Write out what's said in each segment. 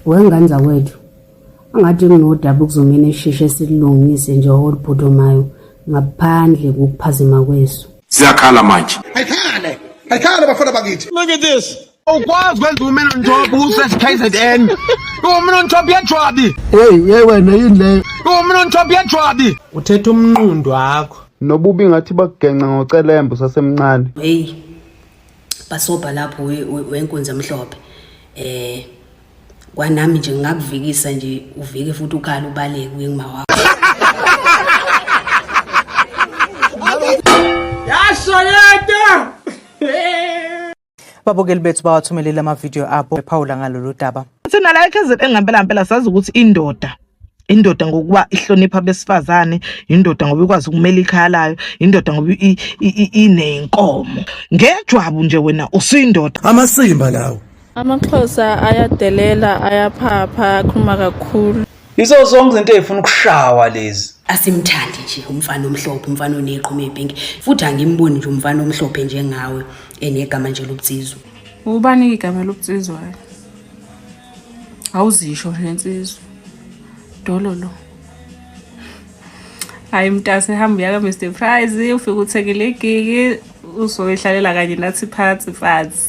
Wengane zakwethu angathi kunodaba ukuzongena esheshe silungise nje oluphuthumayo ngaphandle kokuphazima kwesu. Siyakhala manje. Ayikhale. Ayikhale bafana bakithi. Look at this. Ukwazi kwenza umena njobo usesikZN. Umena njobo yejwabi. Hey, hey wena yini leyo? Umena njobo yejwabi. Uthetha umnqundu wakho. Nobubi ngathi bakugenca ngocelembe usasemncane. Hey. bhasobha lapho wenkunzi emhlophe eh kwanami nje ngingakuvikisa nje uvike futhi ukhala ubaleke kuye ngima wakho yashoyeta babukeli bethu bawathumelele amavidiyo abo ephawula ngalolu daba thina la ekhezini engampela mpela sazi ukuthi indoda indoda ngokuba ihlonipha abesifazane indoda ngoba ikwazi ukumela ikhaya layo indoda ngoba inenkomo ngejwabu nje wena usuyindoda amasimba lawo amaxhosa ayadelela ayaphapha akhuluma kakhulu yizo zonke izinto ezifuna ukushawa lezi asimthandi nje umfana omhlophe umfana oneqhuma ebhinki futhi angimboni nje umfana omhlophe njengawe enegama nje lobutsizwa ubani igama lobutsizwayo awuzisho nje nsizwa dololo hayi mntase hamba uyaka mr prize ufike uthekele igigi uzoyihlalela kanye nathi phansi phansi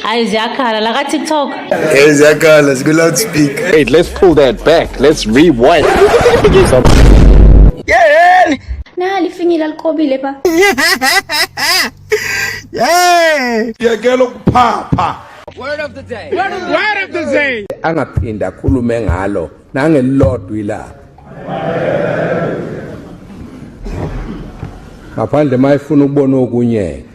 hayi ziyakhala la ka-tiktok hey ziyakhala zikwi-loudspeaker wait let's pull that back let's rewind yeheni Na lifinyile alikobile ba. Yay! Yekela ukuphapha. Word of the day. Word of the, Word of the day. Angaphinde akhulume ngalo nangelilodwa ilapha. Ngaphandle mayifuna ukubona okunye.